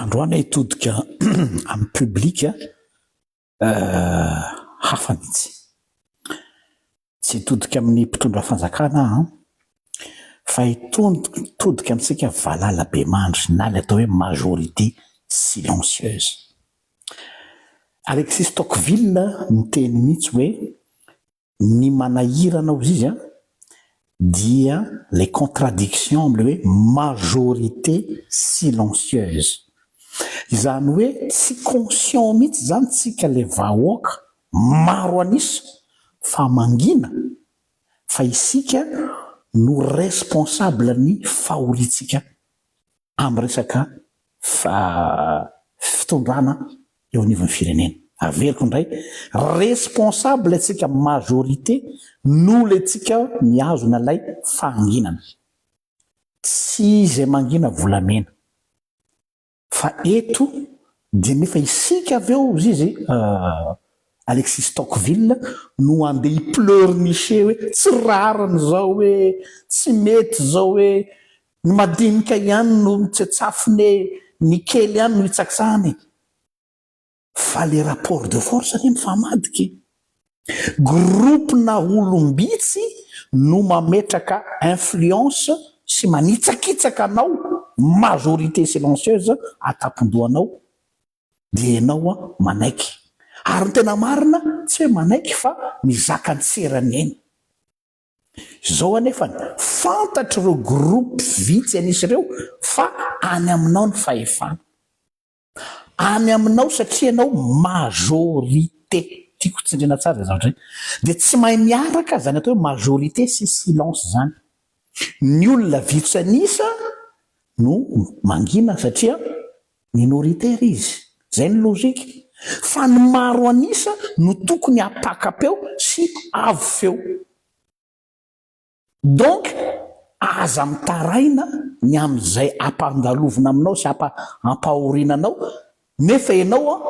Androany hitodika amin'ny publique hafa mihitsy. Tsy hitodika amin'ny mpitondra fanjakana aho fa hitodika amintsika valala be mandry na ilay atao hoe majorité silencieuse. Alexis Tocqueville no niteny mihitsy hoe Ny manahirana hozy izy an, dia ilay contradiction amin'ilay hoe majorité silencieuse. Izany hoe tsy conscient mihitsy izany tsika ilay vahoaka maro an'isa fa mangina fa isika no responsable ny fahoriantsika amin'ny resaka fitondrana eo anivon'ny firenena. Averiko indray, responsable antsika majorité no le tsika mihazona ilay fahanginana. Tsy izay mangina volamena. Fa eto dia nefa isika avy eo ry izy Alexis Tocqueville no andeha hi-pleurnicher hoe tsy rariny izao e, tsy mety izao e, Ny madinika ihany no mitsetsafone ny kely ihany no hitsaktsahany fa le rapport de force anie mifamadika e! Groupe na olom-bitsy no mametraka influence sy manitsakitsaka anao majorité silencieuse atapon-dohanao dia enao manaiky ary ny tena marina tsy hoe manaiky fa mizaka an-tserany eny. Izao anefa, fantatr'ireo gropy vitsy an'isa ireo fa any aminao ny fahefana. Any aminao satria ianao majorité. Tiako tsindriana tsara izay zavatra izay. Dia tsy mahay miaraka izany atao hoe majorité sy silence izany. Ny olona vitsy an'isa no mangina satria Minoritaire izy. Izay ny logique. Fa ny maro an'isa no tokony hapaka-peo sy avo feo. Donc aza mitaraina ny amin'izay ampandalovina aminao sy ampahorina anao nefa ianao an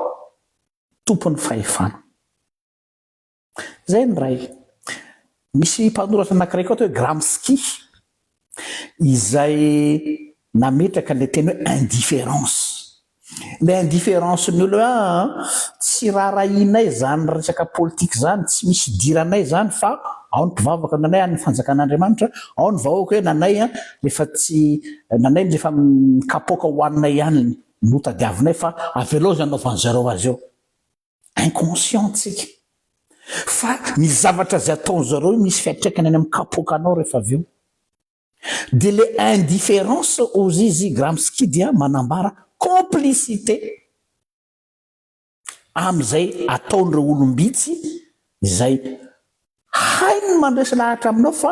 tompon'ny fahefana. Izay ny iray. Misy mpanoratra anankiray koa atao hoe Gramsci izay nametraka ilay teny hoe indifférence. Ilay indifférence ny olona hoe an, tsy raharahianay izany resaka politika izany, tsy misy idiranay izany fa ao ny mpivavaka ny anay, any ny fanjakan'Andriamanitra, ao ny vahoaka hoe ny anay an, rehefa tsy, ny anay ny rehefa kapoaka hohaninay ihany no tadiavinay fa avelao izay anaovan'i zareo azy eo. inconscient tsika fa ny zavatra zay ataony zareo io misy fiatraikany any am kapoakanao refa avy eo de le indifference aux izy gramsci dia manambara complicité am zay ataony reo olombitsy zay hainy ny mandresy lahatra aminao fa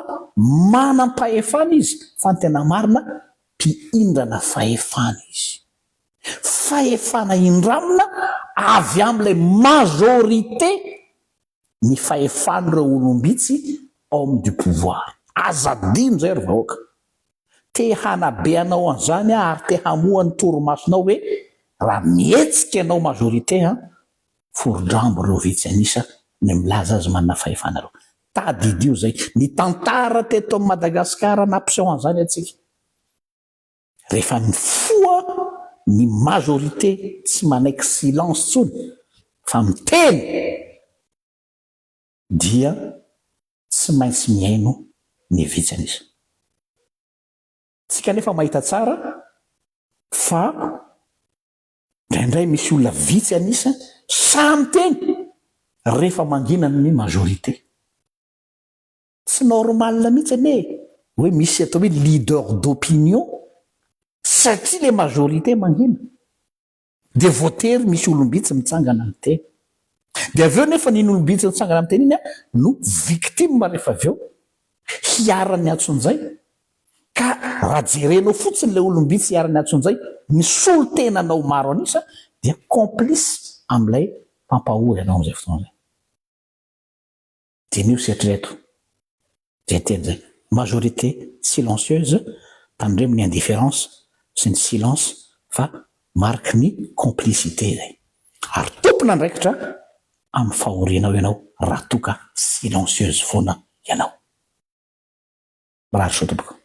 manam pahefana izy fa ny tena marina mpihindrana fahefana izy fahefana indramina avy amin'ilay majorité ny fahefan'ireo olom-bitsy homme du pouvoir. Aza adino izay ry vahoaka. Te hanabe anao an'izany aho ary te hamoha ny torimasonao hoe raha mihetsika ianao majorité an, forodrambo ireo vitsy an'isa ny milaza azy manana fahefana ireo. Tadidio izay. Ny tantara teto amin'i Madagasikara nampiseho an'izany antsika. Rehefa mifoha ny majorité tsy manaiky silence tsony fa miteny dia tsy maintsy mihaino ny vitsy anisa. Tsika nefa mahita tsara fa ndraindray misy olona vitsy anisa sahy miteny rehefa mangina ny majorité. Tsy normal mihitsy anie hoe misy atao hoe leader d'opinion satria le majorité mangina dia voatery misy olom-bitsy mitsangana miteny. Dia avy eo nefa n'iny olom-bitsy mitsangana miteny iny no victime rehefa avy eo hiaran'ny antsonjay ka raha jerenao fotsiny ilay olom-bitsy hiaran'ny antsonjay misolo tena anao maro an'isa dia complice amin'ilay mpampahory anao amin'izay fotoana izay. Diniho sy eritrereto izay teny izay, majorité silencieuse, tandremo ny indifférence sy ny silence fa mariky ny complicité izay. Ary tompon'andraikitra amin'ny fahorianao ianao raha toa ka silencieuse foana ianao. Mirary soa tompoko.